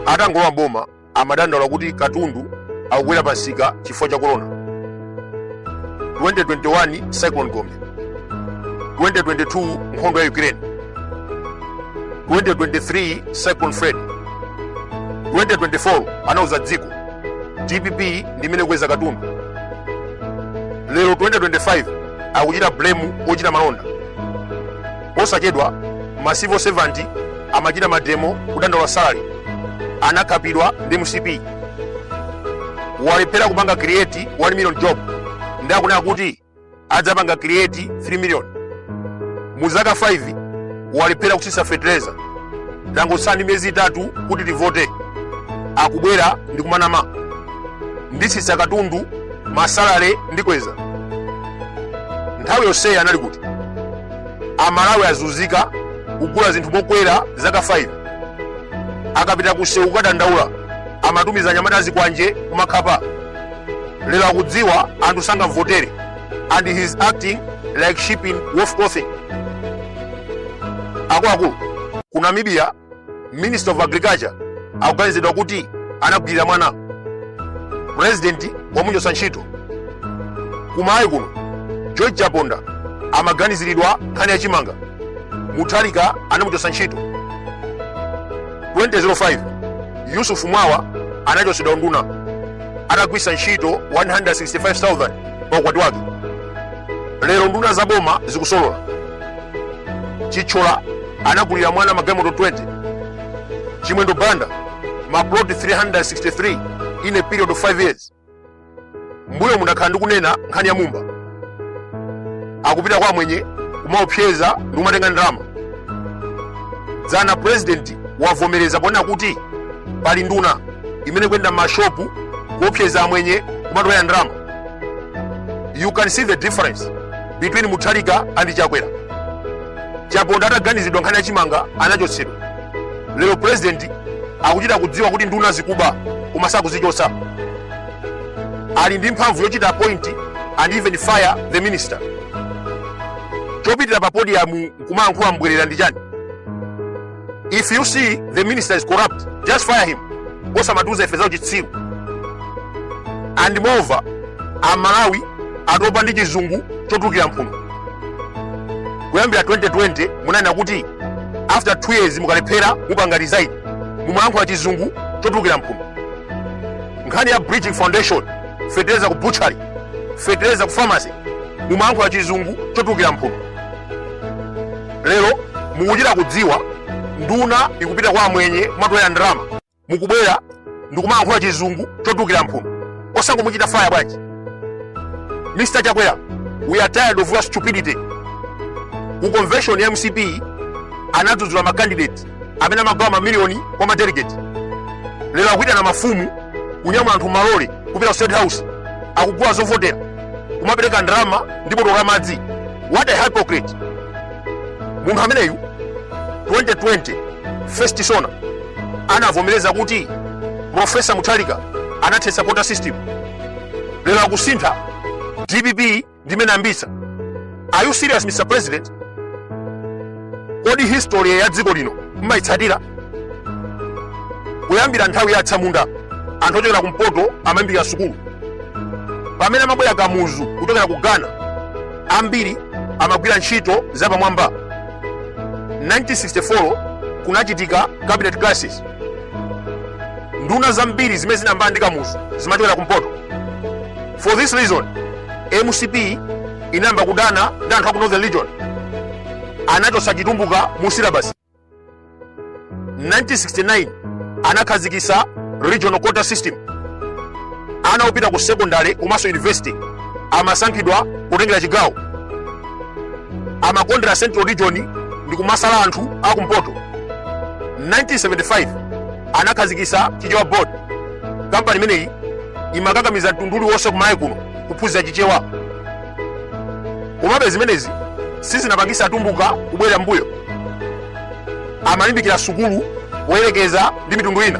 atangolowa boma amadandaula kuti katundu akukwera pa nsika chifukwa cha korona 2021 cyclone gombe 2022 nkhondo ya ukraine 2023 cyclone freddy 2024 anauza dziko dpp ndi imene ikukweza katundu lero 2025 akuchita blame ochita malonda Posachedwa, ma civil servant amachita mademo kudandaula salary anakhapidwa ndi mcp walephera kupanga create 1 million job ndi akunena kuti adzapanga create 3 million mu zaka 5 walephera kutsitsa fertilizer tangotsala ndi miyezi itatu kuti tivote akubwera ndi kumanama nditsitsa katundu ma salary ndikweza nthawi yonseyi anali kuti amalawi azunzika kugula zinthu mokwera zaka 5 akapita kusewu kukadandaula amatumiza anyamata azikwanje kumakhapa lero akudziwa anthu sangamvotere and he is acting like sheep in wolf clothing akuluakulu ku namibia minister of agriculture akuganizidwa kuti anagwirira mwana president wamuchotsa ntchito kwathu kuno george chaponda amaganiziridwa nkhani ya chimanga mutharika anamuchotsa ntchito 2005 yusuf mwawa anachotsedwa unduna atagwiritsa ntchito 165000 pa ukwati wake lero nduna za boma zikusolola chithyola anagulira mwana magalimoto 20 chimwendo banda maploti 363 in a period of 5 years mbuyomu ndakhala ndikunena nkhani ya mumba akupita kwa amwenye kumaopseza ndi kumatenga ndalama dzana purezidenti wavomereza ponena kuti pali nduna imene ikuyenda mmashopu kuopseza amwenye kumatolera ndalama you can see the difference between mutharika and chakwera chaponda ataganizidwa nkhani ya chimanga anachotsedwa lero president akuchita kudziwa kuti nduna zikuba koma sakuzichotsa ali ndi mphamvu yochita appoint and even fire the minister chopitira pa podium kumayankhula mbwerera ndi chani if you see the minister is corrupt just fire him osamatiuza ife zauchitsiru and moreover amalawi atopa ndi chizungu chotukira mphuno kuyambira 2020 munanena kuti after 2 years mukalephera mupanga resign mumalankhula chizungu chotukira mphuno nkhani ya bridging foundation fetereza ku butchery fetereza ku pharmacy mumalankhula chizungu chotukira mphuno lero mukuchita kudziwa nduna ikupita kwa amwenye kumatolera ndalama mukubwera ndikumalankhula chizungu chotukira mphuno osangomuchita faya bwanji mr chakwera we are tired of your stupidity ku convention ya mcp anadzudzula makandidate amene amagawa mamiliyoni kwa madelegeti lero akuitana mafumu kunyamula anthu m'malole kupita ku state house akugula zovotera kumapereka ndalama ndi botolo la madzi what a hypocrite munthu ameneyu 2020 first sona anavomereza kuti profesa mutharika anathetsa quota system lero akusintha dpp ndi imene inayambitsa are you serious mr president kodi history ya dziko lino mmayitsatira kuyambira nthawi ya atsamunda anthu ochokera kumpoto amalimbikira sukulu pamene amabwera kamuzu kuchokera ku ghana ambiri amagwira ntchito zapamwamba 1964 kunachitika cabinet crisis nduna zambiri zimene zinayambana ndi kamuzu zimachokera kumpoto for this reason mcp inayamba kudana ndi anthu aku northern region anachotsa chitumbuka mu syllabus 1969 anakhazikitsa regional quota system ana opita ku secondary komanso university amasankhidwa kutengera chigawo amakondera central region ndi kumasala anthu akumpoto 1975 anakhazikitsa chichewa board kampani imeneyi imakakamiza mtundu uliwonse kumalawi kuno kuphunzira chichewa komabe zimenezi sizinapangise atumbuka kubwerera mbuyo amalimbikira sukulu poyerekeza ndi mitundu ina